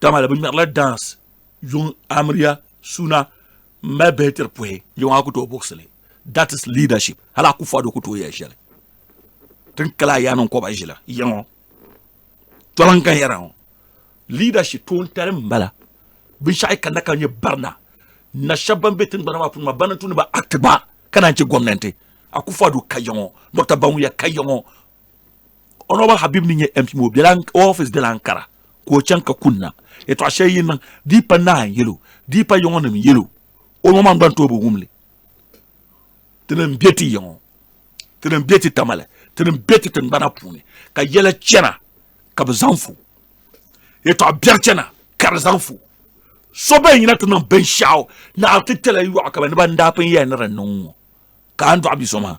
dama di bi ŋmɛrila dance yuŋ amiriya suna n mali bihi tiri puhi yuŋ a ku tooi buɣusili that is leadership hali a ku fɔdo ku tooi yɛli shɛli tin kala a yaani n kɔba ʒila yiŋɔ tɔla n kan yɛra ŋɔ leadership toontali n bala binshaɣu yi kanna ka nyɛ barina na shɛba ban bɛ tingbana maa puuni maa ban n tu ni ba act gba ka naan chɛ gɔmnanti a ku fɔdo ka yiŋɔ dɔkta banwuya ka yiŋɔ Honorable Habib ni nyɛ MP ŋɔ bela office bela Ankara ka o chaŋ ka kunna yɛtɔɣa shɛli yi niŋ di yi pa nahi n yelo di yi pa yiŋɔ nim n yelo o ŋɔ maa gba n tooi bi wumli ti ni n bɛ ti yiŋɔ ti ni n bɛ ti tamale ti ni n bɛ ti tingbana puuni ka yɛla chɛna ka bi zaŋ fu yɛtɔɣa biɛri chɛna ka di zaŋ fu so bɛn yina ti niŋ binshaɣu naɣiri ti tɛla yɔɣu ka ba ni ban daa pun yɛli ni di niŋ ŋɔ ka a ni dɔɣi bi so maa